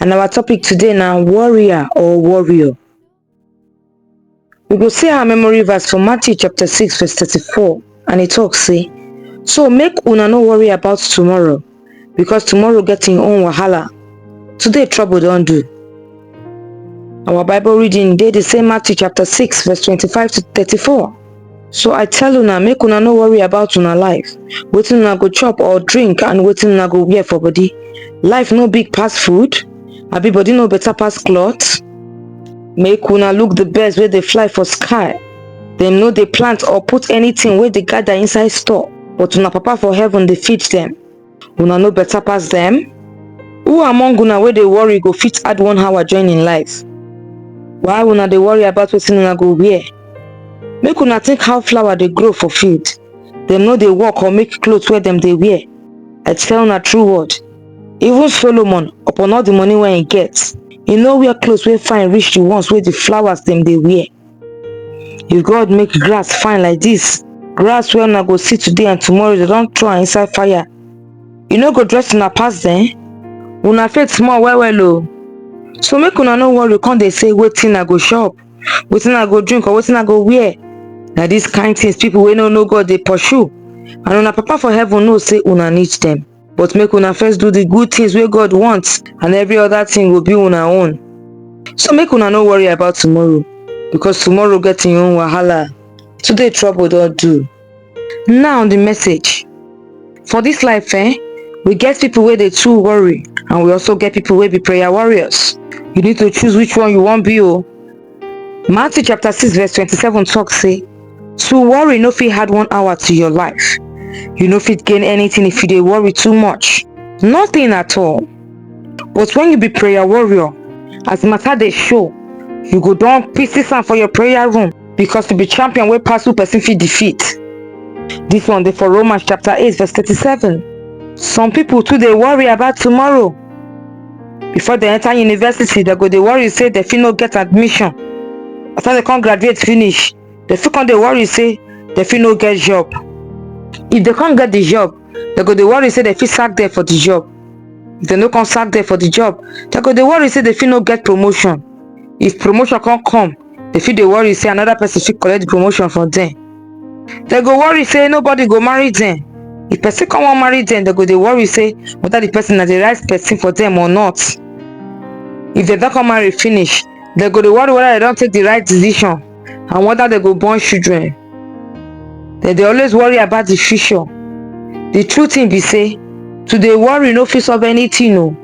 and our topic today na warrior or warrior we go see our memory verse for matthew chapter 6 verse 34 and e tok say so make una no worry about tomorrow because tomorrow get im own wahala today trouble don do our bible reading dey di same matthew chapter 6 verse 25 to 34 so i tell una make una no worry about una life wetin una go chop or drink and wetin una go wear for body life no big pass food abi body no better pass cloth make una look the birds wey dey fly for sky dem no dey plant or put anything wey dey gather inside store but una papa for heaven dey feed dem una no better pass dem who among una wey dey worry go fit add one hour join im life why una dey worry about wetin una go wear make una think how flower dey grow for field dem no dey work or make cloth wey dem dey wear i tell una true word even solomon upon all the money wey he get he no wear cloth wey fine reach the ones wey the flowers dem dey wear if god make grass fine like dis grass wey una go see today and tomorrow dem don throw am inside fire e no go dress una pass dem una faith small well well o so make una no worry come dey say wetin i go chop wetin i go drink or wetin i go wear na dis kain tins pipo wey no know god dey pursue and una papa for heaven know say una need dem but make una first do the good things wey god want and every other thing go be una own so make una no worry about tomorrow because tomorrow get im own wahala today trouble don do now the message for this life eh we get people wey dey too worry and we also get people wey be prayer warriors you need to choose which one you wan be o Matthew chapter 6 verse 27 talk say, To worry no fit add one hour to your life. You no fit gain anything if you dey worry too much. Nothing at all. But when you be prayer warrior, as matter dey show, you go don pieces am for your prayer room because you be champion wey pass who person fit defeat. This one dey for Romans chapter 8 verse 37. Some people too dey worry about tomorrow. before dem enter university dem go dey worry say dem fit no get admission after dem come graduate finish dem fit come dey worry say dem fit no get job if dem come get the job dem go dey worry say dem fit sack dem for the job if dem no come sack dem for the job dem go dey worry say dem fit no get promotion if promotion come come dem fit dey worry say another person fit collect the promotion from dem dem go worry say nobody go marry dem if person come wan marry dem dem go dey worry say whether the person na the right person for dem or not if dem don come marry finish dem go dey worry whether dem don take the right decision and whether dem go born children dem dey always worry about the future the true thing be say to dey worry no fit solve anything o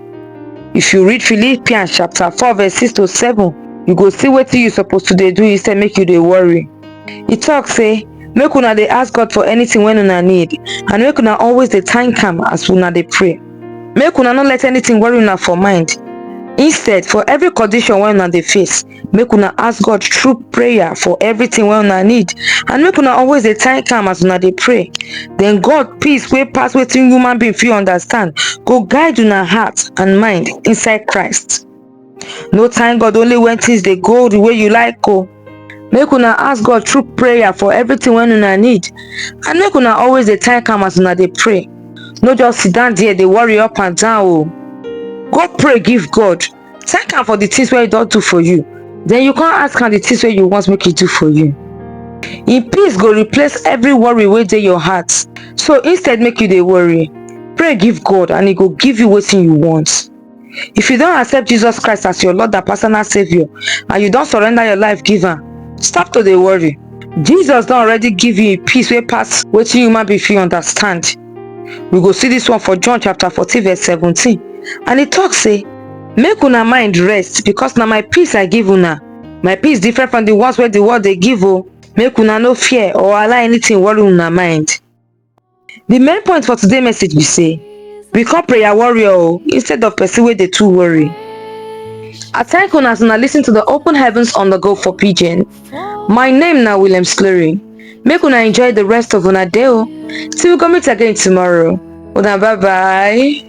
if you read philippians chapter four verse six to seven you go see wetin you suppose to dey do instead make you dey worry e tok say make una dey ask god for anytin wey una need and make una always dey thank am as una dey pray make una no let anytin worry una for mind instead for every condition wey una dey face make una ask god through prayer for everytin wey una need and make una always dey thank am as una dey pray den god peace wey pass wetin human being fit understand go guide una heart and mind inside christ no thank god only when things dey go the way you like o make una ask god through prayer for everything wey una need and make una always dey thank am as una dey pray no just sit down there dey worry up and down o go pray give god thank am for the things wey he don do for you then you come ask am the things wey you want make he do for you him peace go replace every worry wey dey your heart so instead make you dey worry pray give god and he go give you wetin you want If you don accept Jesus Christ as your Lord and personal Savior and you don surrender your life give am, stop to dey worry. Jesus don already give you peace wey pass wetin human being fit understand. We go see this one for John chapter 14 verse 17 and e talk say, Make una mind rest because na my peace I give una. My peace different from the ones wey the world dey give o. Make una no fear or allow anything worry una mind. The main point for today message be say we come prayer warrior oh, instead of person where they too worry. I thank you as una listen to the open heavens on the go for pigeon. My name now William Slurry. Make una enjoy the rest of una day oh. Till we come meet again tomorrow. Una bye bye.